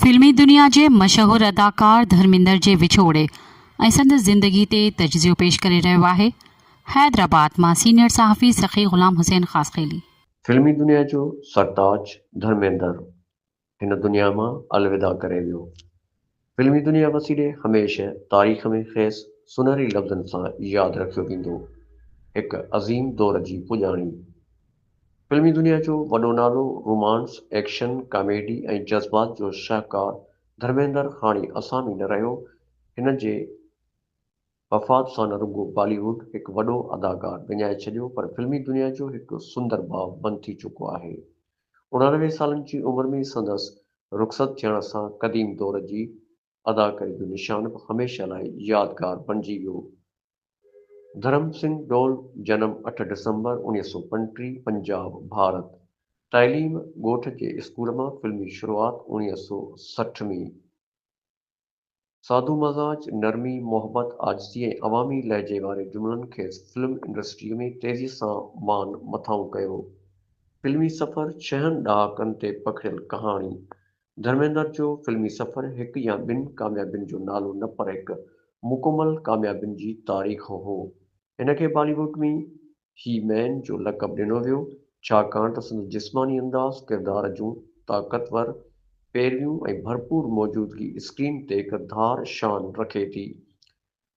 فلمي دنيا جي مشهور اداڪار ڌرميندر جي وڇوڙي ۽ سندس زندگي تي تجزيو پيش ڪري رهيو آهي حيدرآباد مان سينيئر صحافي سخي غلام حسين خاصخيلي. فلمي دنيا جو سرتاج ڌرميندر هن دنيا مان الوداع ڪري ويو. فلمي دنيا وسيلي هميشه تاريخ ۾ کيس سونهري لفظن سان ياد رکيو ويندو. هڪ عظيم دور جي پڄاڻي. فلمي دنيا جو وڏو نالو، رومانس، ايڪشن، ڪاميڊي ۽ جذبات جو شاهڪار ڌرميندر هاڻي اسان ۾ نه رهيو. هن جي وفات سان نه رڳو بالي ووڊ هڪ وڏو اداڪار وڃائي ڇڏيو پر فلمي دنيا جو هڪ سندر ڀاء بند ٿي چڪو آهي. اڻاڻوي سالن جي عمر ۾ سندس رخصت ٿيڻ سان قديم دور جي اداڪاري جو نشان به هميشه لاء يادگار بڻجي ويو. ڌرم سنگهه ڊول، جنم اٺ ڊسمبر اڻيهه سؤ پنٽيهه، پنجاب، ڀارت، تعليم ڳوٺ جي اسڪول مان فلمي شروعات اڻيهه سؤ سٺ ۾. سادو مزاج، نرمي، محبت، عاجزي ۽ عوامي لهجي واري جملن کيس فلم انڊسٽريء ۾ تيزيء سان مان مٿانهون ڪيو. فلمي سفر ڇهن ڏهاڪن تي پکڙيل ڪهاڻي. ڌرميندر جو فلمي سفر هڪ يا ٻن ڪاميابين جو نالو نه پر هڪ مڪمل ڪاميابين جي تاريخ هو. هن کي بالي ووڊ ۾ هي مين جو لقب ڏنو ويو، ڇاڪاڻ ته سندس جسماني انداز، ڪردار جون طاقتور پيرويون ۽ ڀرپور موجودگي اسڪرين تي هڪ ڌار شان رکي ٿي.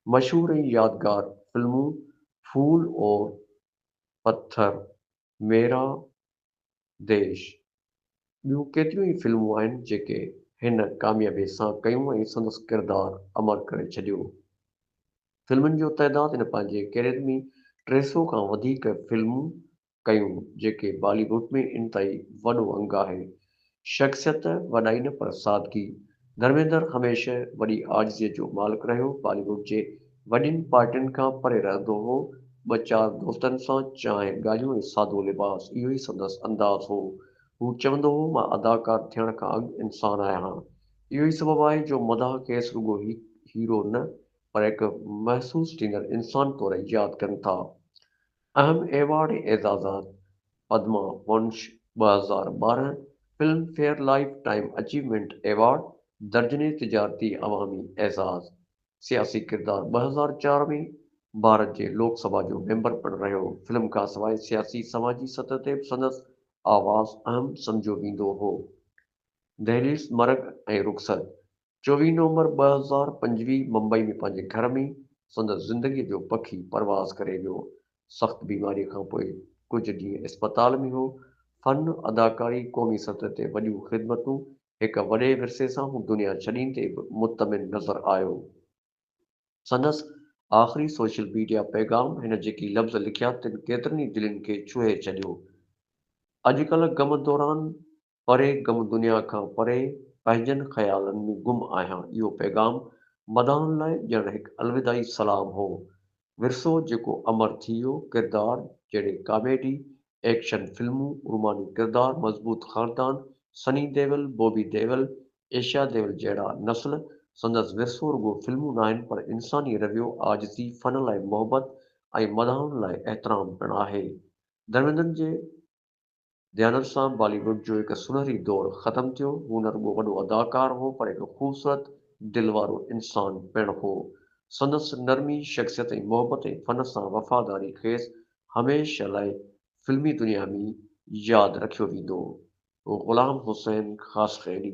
مشهور ۽ يادگار فلمون ڦول اور پٿر، ميرا ديش، ٻيون ڪيتريون ئي فلمون آهن جيڪي هن ڪاميابي سان ڪيون ۽ سندس ڪردار امر ڪري ڇڏيو. فلمن جو تعداد هن پنهنجي ڪيريئر ۾ ٽي سئو کان وڌيڪ فلمون ڪيون جيڪي بالي ووڊ ۾ انتهائي وڏو انگ آهي شخصيت وڏائي نه پر سادگي، ڌرميندر هميشه وڏي عاجزيء جو مالڪ رهيو، بالي ووڊ جي وڏين پارٽين کان پري رهندو هو، ٻه چار دوستن سان چانهه، ڳالهيون ۽ سادو لباس اهو ئي سندس انداز هو، هو چوندو هو مان اداڪار ٿيڻ کان اڳ انسان آهيان، اهو ئي سبب آهي جو مداح کيس رڳو هڪ هيرو نه پر هڪ محسوس ڏيندڙ انسان طور ياد ڪن ٿا. اهم ايوارڊ اعزازات، پدما ونش ٻه هزار ٻارهن، Filmfare lifetime achievement award, درجني تجارتي عوامي اعزاز، سياسي ڪردار ٻه هزار چار ۾ ڀارت جي لوڪ سڀا جو ميمبر پڻ رهيو، فلم کانسواء سياسي سماجي سطح تي به سندس آواز اهم سمجهيو ويندو هو. دهليز مرگ ۽ رخصت، چوويهه نومبر ٻه هزار پنجويهه ممبئي ۾ پنهنجي گهر ۾ سندس زندگيء جو پکي پرواز ڪري ويو. سخت بيماريء کان پوء ڪجهه ڏينهن اسپتال ۾ هو. فن، اداڪاري، قومي سطح تي وڏيون خدمتون، هڪ وڏي ورثي سان هو دنيا ڇڏيندي به مطمئن نظر آيو. سندس آخري سوشل ميڊيا پيغام هن جيڪي لفظ لکيا تن ڪيترن ئي دلين کي ڇهي ڇڏيو. اڄ ڪلهه غم دوران پري غم دنيا کان پري پنهنجن خيالن ۾ گم آهيان اهو پيغام مداحن لاء ڄڻ هڪ الوداعي سلام هو. ورثو جيڪو امر ٿي ويو، ڪردار جهڙي ڪاميڊي، ايڪشن فلمون، روماني ڪردار، مضبوط خاندان، سني ديول، بوبي ديول، ايشيا ديول جهڙا نسل سندس ورثو رڳو فلمون ناهن پر انساني رويو، عاجزي، فن لاء محبت ۽ مداحن لاء احترام پڻ آهي. درميندن جي. ديانت سان بالي ووڊ جو هڪ سونهري دور ختم ٿيو. هو نه رڳو وڏو اداڪار هو پر هڪ خوبصورت دل وارو انسان پڻ هو. سندس نرمي شخصيت ۽ محبت ۽ فن سان وفاداري کيس هميشه لاء فلمي دنيا ۾ ياد رکيو ويندو. غلام حسين خاصخيلي.